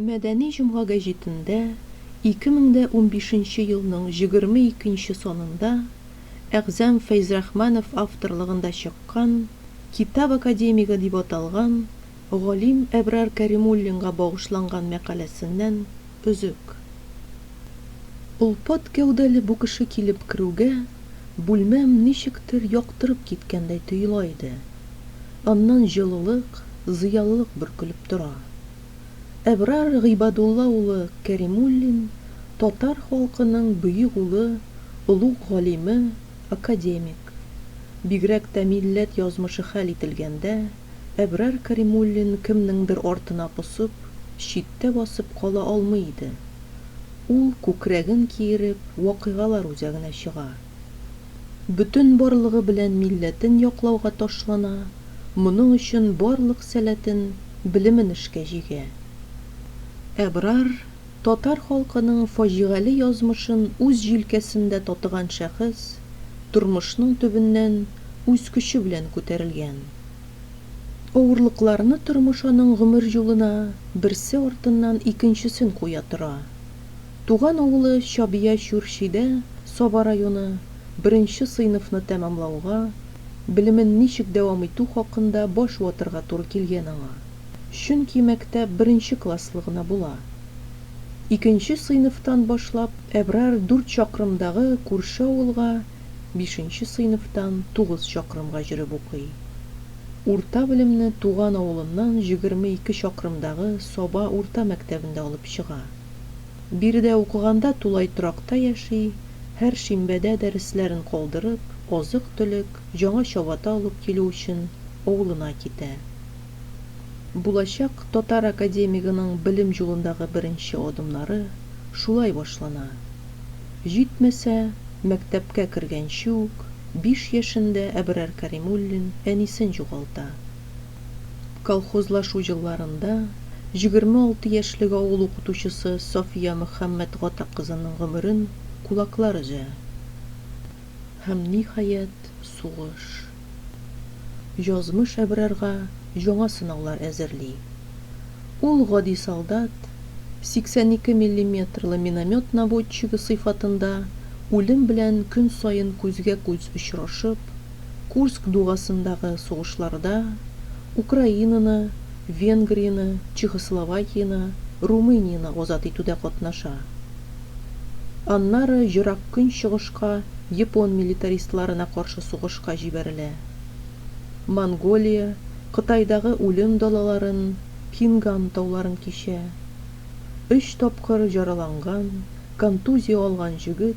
Мәдәни җомга гәҗитендә 2015 елның 22 нче санында Әгъзам Фәйзрахманов авторлыгында чыккан Китап академигы дип аталган галим Әбрар Кәримуллинга багышланган мәкаләсеннән өзек. Олпат гәүдәле бу кеше килеп керүгә, бүлмәм ничектер яктырып киткәндәй тоела иде. Аннан җылылык, зыялылык бөркелеп тора. Әбрар Гыйбадулла улы Кәримуллин, татар халкының бөек улы, олуг галиме, академик. Бигрәк тә милләт язмышы хәл ителгәндә, Әбрар Кәримуллин кемнеңдер артына посып, читтә басып кала алмый иде. Ул, күкрәген киереп, вакыйгалар үзәгенә чыга. бөтен барлыгы белән милләтен яклауга ташлана, моның өчен барлык сәләтен, белемен эшкә җигә. Әбрар, татар халкының фаҗигале язмышын үз җилкәсендә татыган шәхес, тормышның төбеннән үз көче белән күтәрелгән. Авырлыкларны тормыш аның гомер юлына берсе артыннан икенчесен куя тора. Туган авылы Чабия Чүрчидә Саба районы беренче сыйныфны тәмамлауга, белемен ничек дәвам итү хакында баш ватырга туры килгән аңа. Чөнки мәктәп беренче класслы гына була. Икенче сыйныфтан башлап Әбрар дүрт чакрымдагы күрше авылга, бишенче сыйныфтан тугыз чакрымга җөреп укый. Урта белемне туган авылыннан җегерме ике чакрымдагы Саба урта мәктәбендә алып чыга. Биредә укыганда тулай торакта яши, һәр шимбәдә дәресләрен калдырып, азык-төлек, яңа чабата алып килү өчен авылына китә. Булачак татар академигының белем юлындагы беренче адымнары шулай башлана. Җитмәсә, мәктәпкә кергәнче үк, биш яшендә Әбрар Кәримуллин әнисен югалта. Колхозлашу елларында 26 яшьлек авыл укытучысы София Мөхәммәтгата кызының гомерен кулаклар өзә. Һәм, ниһаять, сугыш. Язмыш Әбрарга яңа сынаулар әзерли. Ул гади солдат, 82 миллиметрлы миномет наводчигы сыйфатында үлем белән көн саен күзгә-күз очрашып, Курск дугасындагы сугышларда Украинаны, Венгрияне, Чехословакияне, Румынияне азат итүдә катнаша. Аннары Ерак Көнчыгышка япон милитаристларына каршы сугышка җибәрелә. Монголия, Кытайдагы үлем далаларын, Кинган тауларын кичә. Өч тапкыр җараланган, контузия алган җегет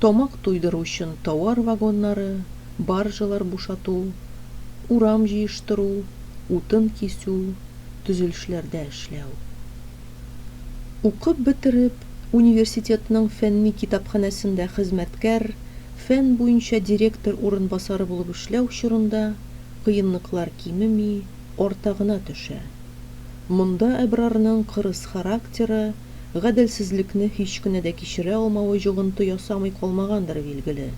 тамак туйдыру өчен тауар вагоннары, баржалар бушату, урам җыештыру, утын кисү, төзелешләрдә эшләү. Укып бетереп, университетның фәнни китапханәсендә хезмәткәр, фән буенча директор урынбасары булып эшләү чорында кыенлыклар кимеми, арта гына төшә. Монда Әбрарның кырыс характеры, гаделсезлекне һич кенә дә кичерә алмавы йогынты ясамый калмагандыр, билгеле.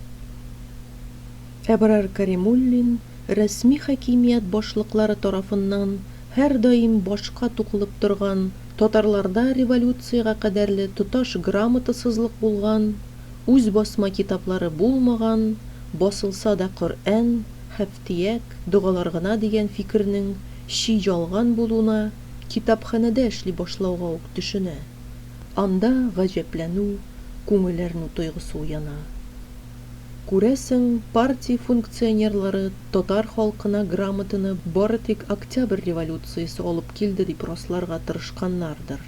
Әбрар Кәримуллин рәсми хакимият башлыклары тарафыннан һәрдаим башка тукылып торган, татарларда революциягә кадәрле тоташ грамотасызлык булган, үз басма китаплары булмаган, басылса да Коръән, Һәфтияк, догалар гына дигән фикернең чи ялган булуына, Китапханәдә эшли башлауга ук төшенә. Анда гаҗәпләнү, күңел әрнү тойгысы уяна. Күрәсең, партия функционерлары татар халкына грамотаны бары тик Октябрь революциясе алып килде дип расларга тырышканнардыр.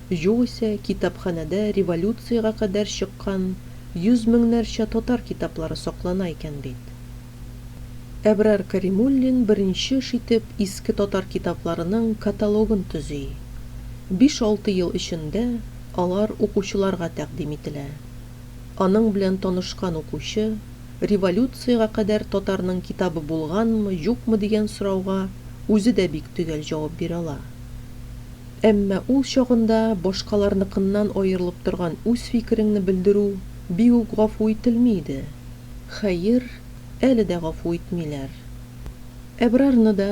Югыйсә, китапханәдә революциягә кадәр чыккан йөз меңнәрчә татар китаплары саклана икән бит. Әбрар Кәримуллин беренче эш итеп иске татар китапларының каталогын төзи. Биш-алты ел эчендә алар укучыларга тәкъдим ителә. Аның белән танышкан укучы, революциягә кадәр татарның китабы булганмы, юкмы дигән сорауга үзе дә бик төгәл җавап бирә ала. Әмма ул чагында башкаларныкыннан аерылып торган үз фикереңне белдерү бик үк гафу ителми иде. Хәер, әле дә гафу итмиләр. Әбрарны да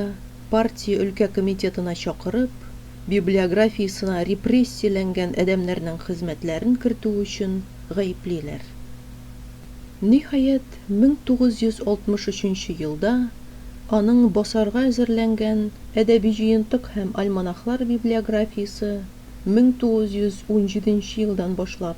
партия өлкә комитетына чакырып, библиографиясенә репрессияләнгән адәмнәрнең хезмәтләрен кертү өчен гаеплиләр. Ниһаять, 1963 елда аның басарга әзерләнгән Әдәби җыентык һәм альманахлар библиографиясе 1917 елдан башлап,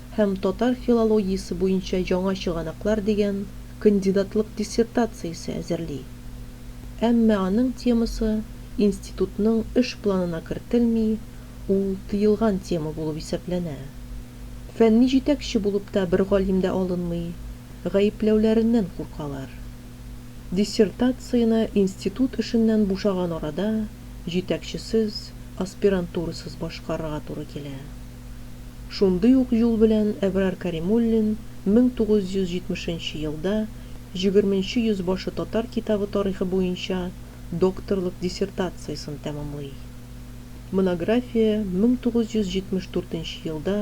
һәм Татар филологиясе буенча яңа чыганаклар дигән кандидатлык диссертациясе әзерли. Әмма аның темасы институтның эш планына кертелми, ул тыелган тема булып исәпләнә. Фәнни җитәкче булып та бер галим дә алынмый, гаепләүләреннән куркалар. Диссертацияне институт эшеннән бушаган арада җитәкчесез, аспирантурасыз башкарырга туры килә. Шундый ук юл белән Әбрар Кәримуллин 1970 нче елда Җигерменче йөзбашы татар китабы тарихы буенча докторлык диссертациясен тәмамлый. Монография 1974 нче елда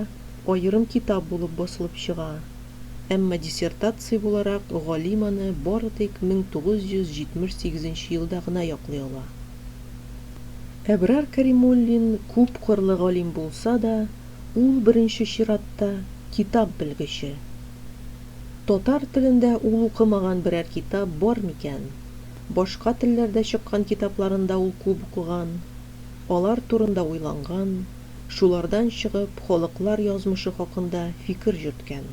аерым китап булып басылып чыга, әмма диссертация буларак галим аны бары тик 1978 нче елда гына яклый ала. Әбрар Кәримуллин күпкырлы галим булса да, ул беренче чиратта китап белгече. Татар телендә ул укымаган берәр китап бар микән? Башка телләрдә чыккан китапларын да ул күп укыган, алар турында уйланган, шулардан чыгып, халыклар язмышы хакында фикер йөрткән.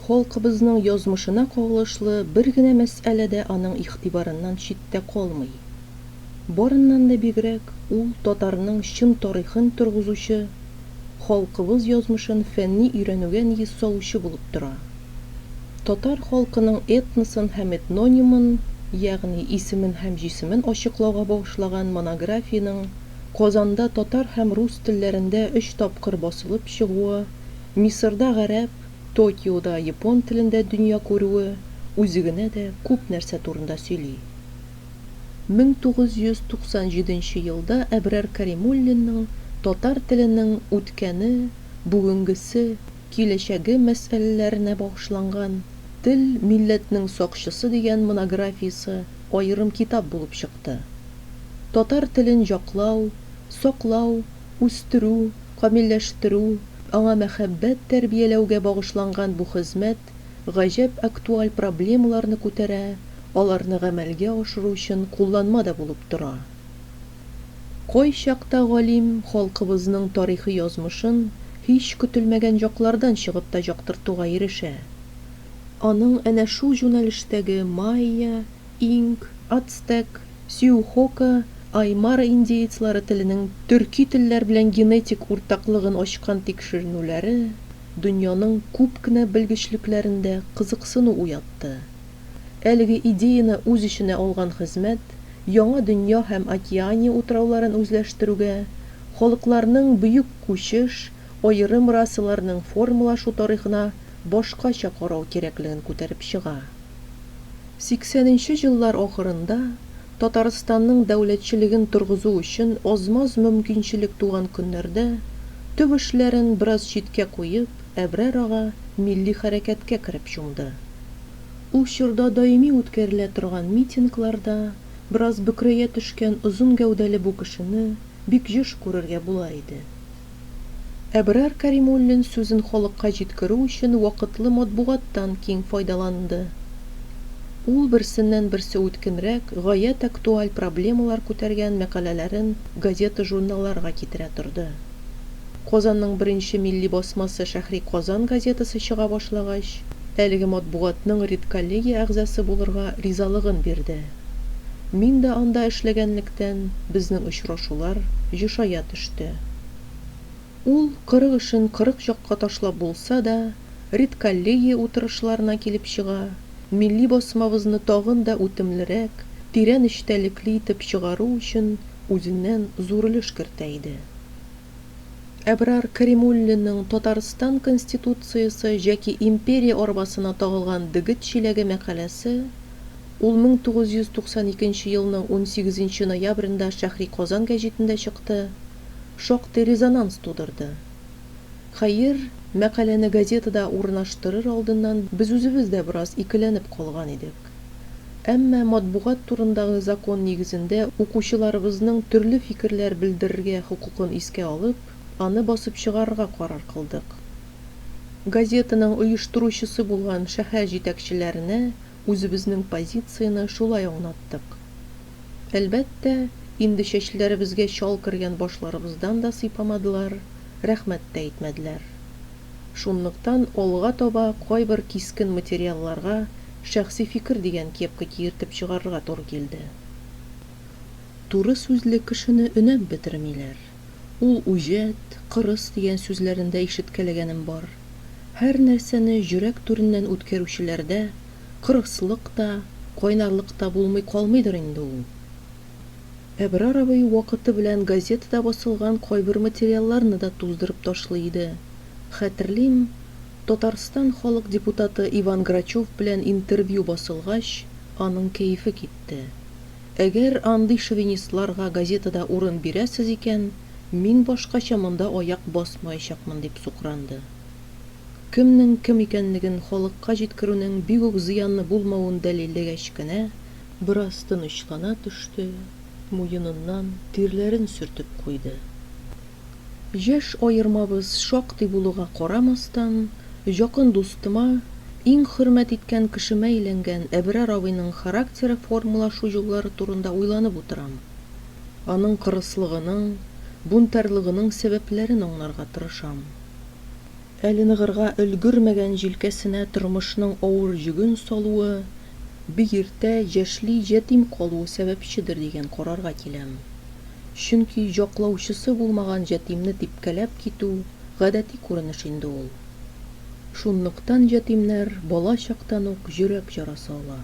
Халкыбызның язмышына кагылышлы бер генә мәсьәлә дә аның игътибарыннан читтә калмый. Барыннан да бигрәк, ул татарның чын тарихын торгызучы, халкыбыз язмышын фәнни өйрәнүгә нигез салучы булып тора. Татар халкының этносын һәм этнонимын, ягъни исемен һәм җисемен ачыклауга багышлаган монографиянең Казанда татар һәм рус телләрендә өч тапкыр басылып чыгуы, Мисырда гарәп, Токиода япон телендә дөнья күрүе үзе генә дә күп нәрсә турында сөйли. 1997 елда Әбрар Кәримуллинның татар теленең үткәне, бүгенгесе, киләчәге мәсьәләләренә багышланган Тел, милләтнең сакчысы дигән монографиясе аерым китап булып чыкты. Татар телен яклау, саклау, үстерү, камилләштерү, аңа мәхәббәт тәрбияләүгә багышланган бу хезмәт гаҗәп актуаль проблемаларны күтәрә, аларны гамәлгә ашыру өчен кулланма да булып тора. Кайчакта галим халкыбызның тарихи язмышын һич көтелмәгән яклардан чыгып та яктыртуга ирешә. Аның әнә шул җүнәлештәге Майя, Инк, ацтек, сюухока, аймара индеецлары теленең төрки телләр белән генетик уртаклыгын ачкан тикшеренүләре дөньяның күп кенә белгечлекләрендә кызыксыну уятты. Әлеге идеяне үз эченә алган хезмәт Яңа дөнья һәм Океания утрауларын үзләштерүгә, халыкларның бөек күчеш, аерым расаларның формалашу тарихына башкача карау кирәклеген күтәреп чыга. Сиксәненче еллар ахырында Татарстанның дәүләтчелеген торгызу өчен аз-маз мөмкинчелек туган көннәрдә, төп эшләрен бераз читкә куеп, Әбрар ага милли хәрәкәткә кереп чумды. Ул чорда даими үткәрелә торган митингларда бераз бөкрәя төшкән озын гәүдәле бу кешене бик еш күрергә була иде. Әбрар Кәримуллин сүзен халыкка җиткерү өчен вакытлы матбугаттан киң файдаланды. Ул берсеннән-берсе үткенрәк, гаять актуаль проблемалар күтәргән мәкаләләрен газета-журналларга китерә торды. Казанның беренче милли басмасы Шәһри Казан газетасы чыга башлагач, әлеге матбугатның редколлегия әгъзасы булырга ризалыгын бирде. Мин дә анда эшләгәнлектән, безнең очрашулар ешая төште. Ул, кырык эшен кырык якка ташлап булса да, редколлегия утырышларына килеп чыга, милли басмабызны тагын да үтемлерәк, тирән эчтәлекле итеп чыгару өчен үзеннән зур өлеш кертә иде. Әбрар Кәримуллинның Татарстан Конституциясе яки империя арбасына тагылган дегет чиләге мәкаләсе, ул 1992 елның 18 ноябрендә Шәһри Казан гәҗитендә чыкты, шактый резонанс тудырды. Хәер, мәкаләне газетада урнаштырыр алдыннан без үзебез дә бераз икеләнеп калган идек. Әмма матбугат турындагы закон нигезендә укучыларыбызның төрле фикерләр белдерергә хокукын искә алып, аны басып чыгарырга карар кылдык. Газетаның оештыручысы булган шәһәр җитәкчеләренә үзебезнең позицияне шулай аңлаттык. Әлбәттә, инде чәчләребезгә чал кергән башларыбыздан да сыйпамадылар, рәхмәт тә әйтмәделәр. Шунлыктан алга таба кайбер кискен материалларга шәхси фикер дигән кепка киертеп чыгарырга туры килде. Туры сүзле кешене өнәп бетермиләр. Ул үҗәт, кырыс дигән сүзләрен дә ишеткәләгәнем бар. Һәр нәрсәне җөрәк түреннән үткәрүчеләрдә кырыслык та, кайнарлык та булмый калмыйдыр инде ул. Әбрар абый вакыты белән газетада басылган кайбер материалларны да туздырып ташлый иде. Хәтерлим, Татарстан халык депутаты Иван Грачев белән интервью басылгач, аның кәефе китте. Әгәр андый шовинистларга газетада урын бирәсез икән, мин башкача монда аяк басмаячакмын, дип сукранды. Кемнең кем икәнлеген халыкка җиткерүнең бик үк зыянлы булмавын дәлилләгәч кенә, Бераз тынычлана төште, муеныннан тирләрен сөртеп куйды. Яшь аермабыз шактый булуга карамастан, якын дустыма, иң хөрмәт иткән кешемә әйләнгән Әбрар абыйның характеры формалашу юллары турында уйланып утырам. Аның кырыслыгының, бунтарьлыгының сәбәпләрен аңларга тырышам. Әле ныгырга өлгермәгән җилкәсенә тормышның авыр йөген салуы, бик иртә җәшли җәтим калуы сәбәпчедер дигән карарга киләм. Чөнки җаклаучысы булмаган җәтимне типкәләп китү, гадәти күренеш инде ул. Шунлыктан җәтимнәр бала чактан ук йөрәк ярасы ала.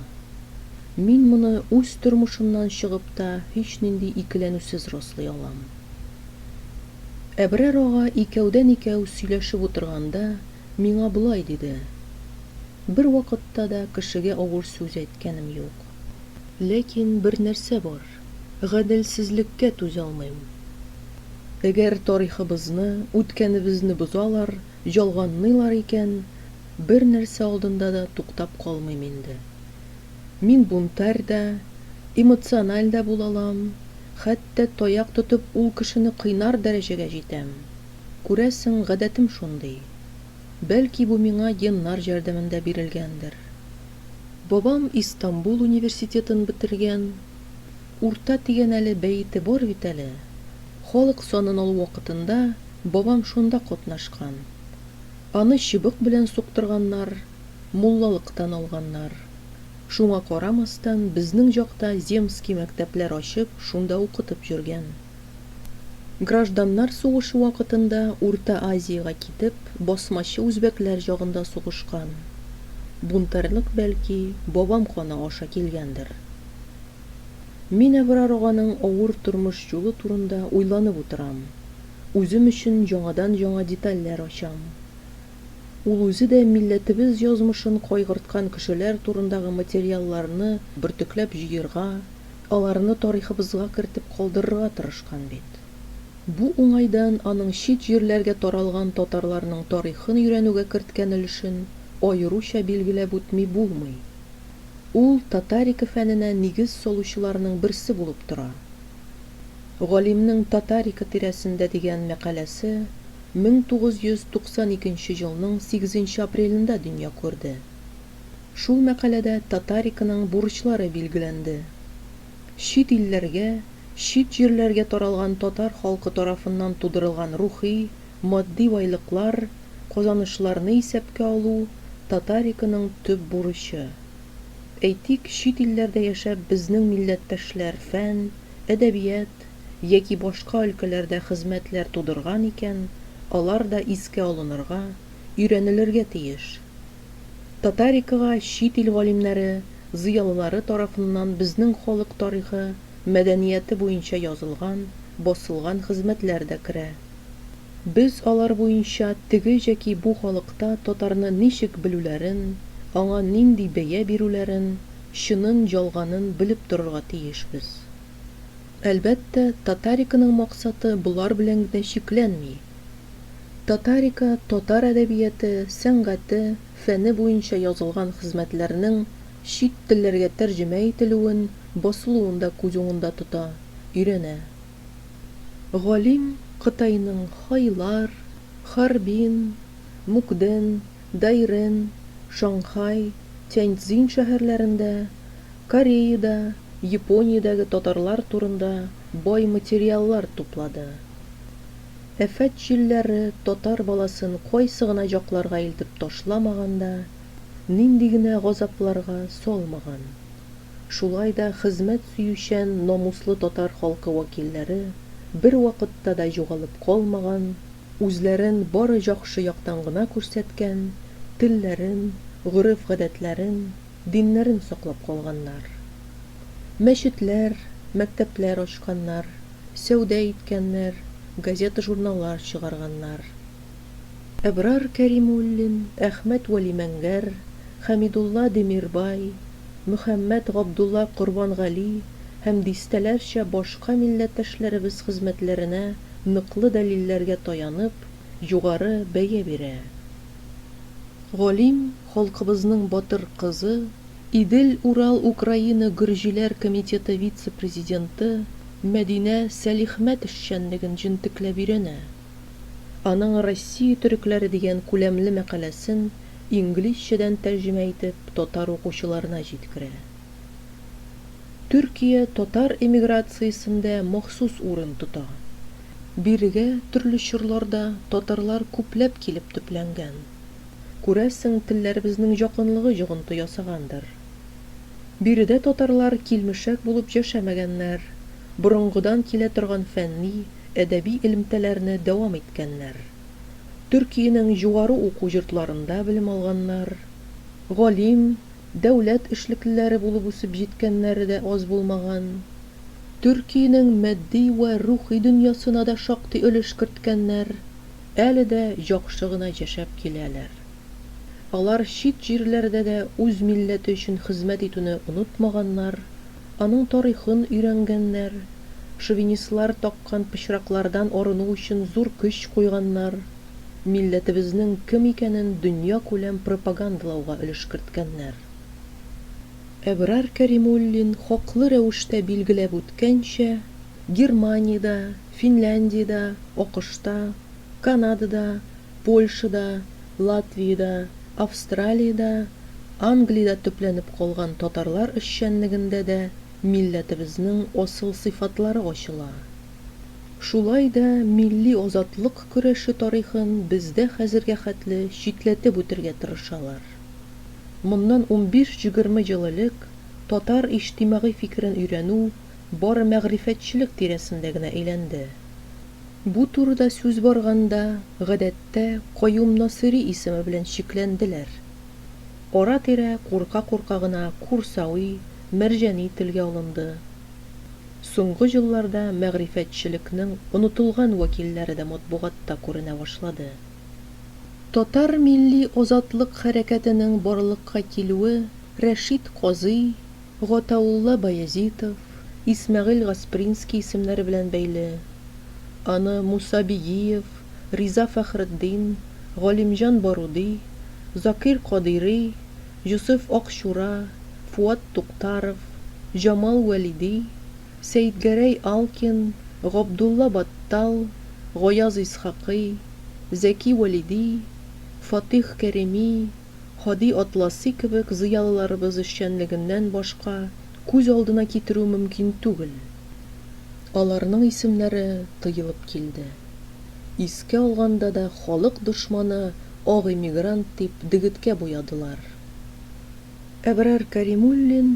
Мин моны үз тормышымнан чыгып та һичнинди икеләнүсез раслый алам. Әбрар ага икәүдән-икәү сөйләшеп утырганда миңа болай диде, Бервакытта да кешегә авыр сүз әйткәнем юк. Ләкин бер нәрсә бар, гаделсезлеккә түзалмыйм. Әгәр тарихыбызны, үткәнебезне бозалар, ялганлыйлар икән, бер нәрсә алдында да туктап калмыйм инде. Мин бунтарь да, эмоциональ дә була алам, хәтта таяк тотып ул кешене кыйнар дәрәҗәгә җитәм. Күрәсең, гадәтем шундый. Бәлки бу миңа геннар җәрдәмендә бирелгәндер. Бабам Истанбул университетын бетергән. Урта тигәнәле бәете бар бит әле. Халык санын алу вакытында бабам шунда катнашкан. Аны чыбык белән суктырганнар. муллалыктан алганнар. Шуңа карамастан, безнең җакта земский мәктәпләр ачып, шунда укытып йөргән. Гражданнар сугышы вакытында Урта Азиягә китеп, басмачы үзбәкләр җагында сугышкан. Бунтарьлык, бәлки, бабам каны аша килгәндер. Мин Әбрар аганың авыр тормыш юлы турында уйланып утырам, үзем өчен яңадан-яңа детальләр ачам. Ул үзе дә милләтебез язмышын кайгырткан кешеләр турындагы материалларны бөртекләп җыерга, аларны тарихыбызга кертеп калдырырга тырышкан бит. Бу уңайдан аның чит җирләргә таралган татарларның тарихын өйрәнүгә керткән өлешен аеруча билгеләп үтми булмый. Ул татарика фәненә нигез салучыларның берсе булып тора. Галимнең Татарика тирәсендә дигән мәкаләсе 1992 елның 8 апрелендә дөнья күрде. Шул мәкаләдә Татариканың бурычлары билгеләнде. Чит илләргә, чит җирләргә таралган татар халкы тарафыннан тудырылган рухи, матди байлыклар, казанышларны исәпкә алу Татариканың төп бурычы. Әйтик, чит илләрдә яшәп безнең милләттәшләр фән, әдәбият яки башка өлкәләрдә хезмәтләр тудырган икән, алар да искә алынырга, өйрәнелергә тиеш. Татарикага чит ил галимнәре, зыялылары тарафыннан безнең халык тарихы, мәдәнияте буенча язылган, басылган хезмәтләр дә керә. Без алар буенча теге җәки бу халыкта татарны ничек белүләрен, аңа нинди бәя бирүләрен, чынын, ялганын белеп торырга тиешбез. Әлбәттә, Татариканың максаты болар белән генә чикләнми. Татарика татар әдәбияте, сәнгате, фәне буенча язылган хезмәтләрнең чит телләргә тәрҗемә ителүен, басылуын да күз уңында тота, өйрәнә. Галим Кытайның Хайлар, Харбин, Мукден, Дайрен, Шанхай, Тяньцзин шәһәрләрендә, Кореида, Япониядәге татарлар турында бай материаллар туплады. Афәт җилләре татар баласын кайсы гына җакларга илтеп ташламаган да, нинди генә газапларга салмаган. шулай да хезмәт сөючән, намуслы татар халкы вәкилләре бервакытта да югалып калмаган, үзләрен бары җахшы яктан гына күрсәткән, телләрен, гореф-гадәтләрен, диннәрен саклап калганнар. Мәчетләр, мәктәпләр ачканнар, сәүдә иткәннәр, газета-журналлар чыгарганнар. Әбрар Кәримуллин, Әхмәт Вәлимәнгәр, Хәмидулла Демирбай, Мөхәммәт Габдулла Корбангали һәм дистәләрчә башка милләттәшләребез хезмәтләренә ныклы дәлилләргә таянып, югары бәя бирә. Галим халкыбызның батыр кызы, Идел-Урал-Украина гөрҗиләр комитеты вице-президенты Мәдинә Сәлихмәт эшчәнлеген җентекләп өйрәнә. Аның Россия төрекләре дигән күләмле мәкаләсен инглизчәдән тәрҗемә итеп татар укучыларына җиткерә. Төркия татар эмиграциясендә махсус урын тота. Бирегә төрле чорларда татарлар күпләп килеп төпләнгән. Күрәсең, телләребезнең якынлыгы йогынты ясагандыр. Биредә татарлар килмешәк булып яшәмәгәннәр, борынгыдан килә торган фәнни, әдәби элемтәләрне дәвам иткәннәр, Төркиянең югары уку йортларында белем алганнар, галим, дәүләт эшлеклеләре булып үсеп җиткәннәре дә аз булмаган. Төркиянең матди вә рухи дөньясына да шактый өлеш керткәннәр, әле дә яхшы гына яшәп киләләр. Алар чит җирләрдә дә үз милләте өчен хезмәт итүне онытмаганнар, Аның тарихын өйрәнгәннәр, шовинистлар таккан пычраклардан арыну өчен зур көч куйганнар, милләтебезнең кем икәнен дөньякүләм пропагандалауга өлеш керткәннәр. Әбрар Кәримуллин хаклы рәвештә билгеләп үткәнчә, Германиядә, Финляндиядә, АКШта, Канадада, Польшада, Латвиядә, Австралиядә, Англиядә төпләнеп калган татарлар эшчәнлегендә дә милләтебезнең асыл сыйфатлары ачыла. Шулай да милли азатлык көрәше тарихын бездә хәзергә хәтле читләтеп үтергә тырышалар. Моннан унбиш-җегерме ел элек татар иҗтимагый фикерен өйрәнү бары мәгърифәтчелек тирәсендә генә әйләнде. Бу турыда сүз барганда, гадәттә, Каюм Насыйри исеме белән чикләнделәр. Ара-тирә курка-курка гына Курсави, Мәрҗани телгә алынды. Соңгы елларда мәгърифәтчелекнең онытылган вәкилләре дә матбугатта күренә башлады. Татар милли азатлык хәрәкәтенең барлыкка килүе Рәшит Казый, Гатаулла Баязитов, Исмәгыйль Гаспринский исемнәре белән бәйле. Аны Муса Бигиев, Риза Фәхретдин, Галимҗан Баруди, Закир Кадыйри, Җосыф Акчура, Фуат Туктаров, Җамал Вәлиди, Сәетгәрәй Алкин, Габдулла Баттал, Гаяз Исхакый, Зәки Вәлиди, Фатих Кәрими, Һади Атласи кебек зыялыларыбыз эшчәнлегеннән башка күз алдына китерү мөмкин түгел. Аларның исемнәре тыелып килде. Искә алганда да халык дошманы, ак эмигрант дип дегеткә буядылар. Әбрар Кәримуллин,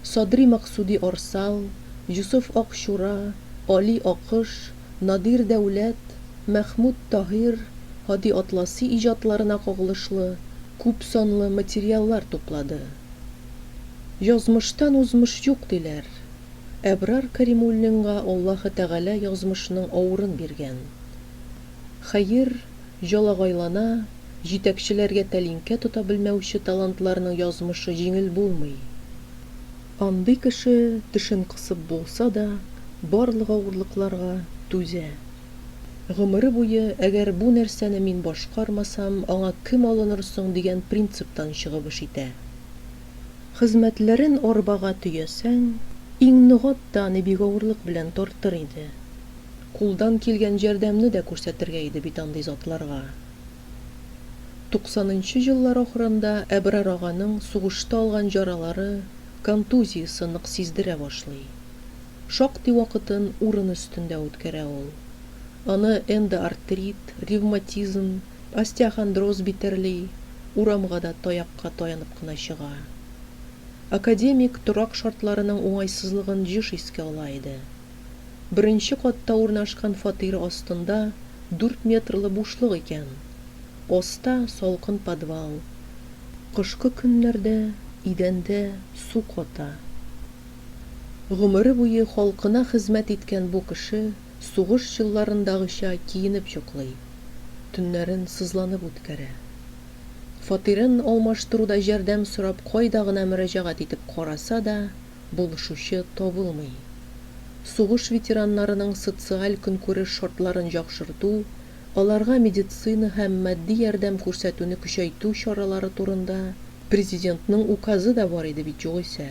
Садри Максуди Орсал, Юсуф Акчура, Али Акыш, Надир Дәүләт, Мәхмүт Таһир, Һади Атласи иҗатларына кагылышлы күп санлы материаллар туплады. Язмыштан узмыш юк, диләр. Әбрар Кәримуллинга Аллаһы Тәгалә язмышның авырын биргән. Хәер, Җалагайлана, җитәкчеләргә тәлинкә тота белмәүче талантларның язмышы җиңел булмый. Андый кеше тешен кысып булса да, барлык авырлыкларга түзә. Гомере буе, әгәр бу нәрсәне мин башкармасам, аңа кем алыныр соң дигән принциптан чыгып эш итә. Хезмәтләрен арбага төясәң, иң ныгат та аны бик авырлык белән тартыр иде. Кулдан килгән җәрдәмне дә күрсәтергә иде бит андый затларга. Туксанынчы еллар ахырында Әбрар аганың сугышта алган җаралары, контузиясе нык сиздерә башлый. Шактый вакытын урын өстендә үткәрә ул. Аны эндоартрит, ревматизм, остеохондроз битәрли, урамга да таякка таянып кына чыга. Академик торак шартларының уңайсызлыгын еш искә ала иде. Беренче катта урнашкан фатир астында дүрт метрлы бушлык икән. Аста, салкын подвал. Кышкы көннәрдә идәндә су ката. Гомере буе халкына хезмәт иткән бу кеше сугыш елларындагыча киенеп йоклый, төннәрен сызланып үткәрә. Фатирын алмаштыруда җәрдәм сорап кайда гына мөрәҗәгать итеп караса да, булышучы табылмый. Сугыш ветераннарының социаль-көнкүреш шартларын яхшырту, аларга медицина һәм матди ярдәм күрсәтүне көчәйтү чаралары турында Президентның Указы да бар иде бит югыйсә.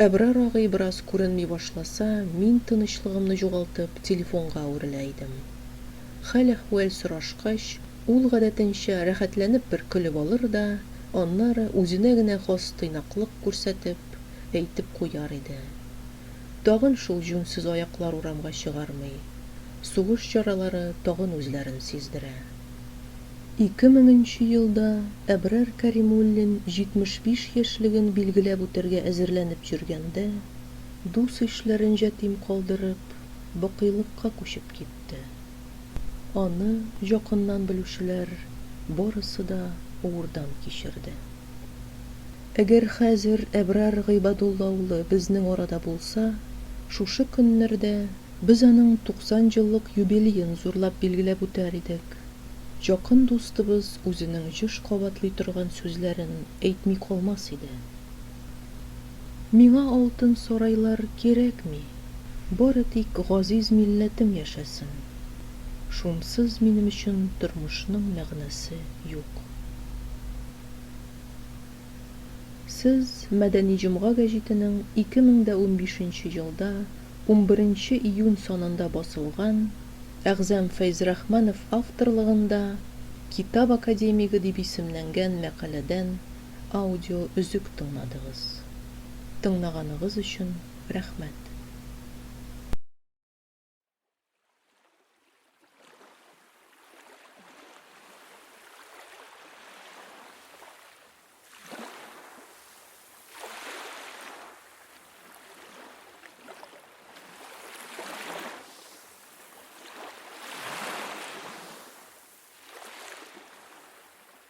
Әбрар агый бераз күренми башласа, мин тынычлыгымны югалтып, телефонга әверелә идем. Хәл-әхвәл сорашкач, Ул, гадәтенчә, рәхәтләнеп бер көлеп алыр да, аннары, үзенә генә хас тыйнаклык күрсәтеп, әйтеп куяр иде. Тагын шул җүнсез аяклар урамга чыгармый. Сугыш чаралары тагын үзләрен сиздерә. Ике меңенче елда Әбрар Кәримуллин 75 яшьлеген билгеләп үтәргә әзерләнеп йөргәндә, дус-ишләрен җәтим калдырып, бакыйлыкка күчеп китте. Аны якыннан белүчеләр барысы да уурдан кичерде. Әгәр хәзер Әбрар Гыйбадулла улы безнең арада булса, шушы көннәрдә без аның 90 еллык юбилеен зурлап билгеләп үтәр идек. Якын дустыбыз үзенең еш кабатлый торган сүзләрен әйтми калмас иде. Миңа алтын сарайлар кирәкми, бары тик газиз милләтем яшәсен. Шунсыз минем өчен тормышның мәгънәсе юк. Сез Мәдәни җомга гәҗитенең 2015 нче елда унберенче июнь санында басылган Әгъзам Фәйзрахманов авторлыгында Китап академигы дип исемләнгән мәкаләдән аудио өзек тыңладыгыз. Тыңлаганыгыз өчен рәхмәт!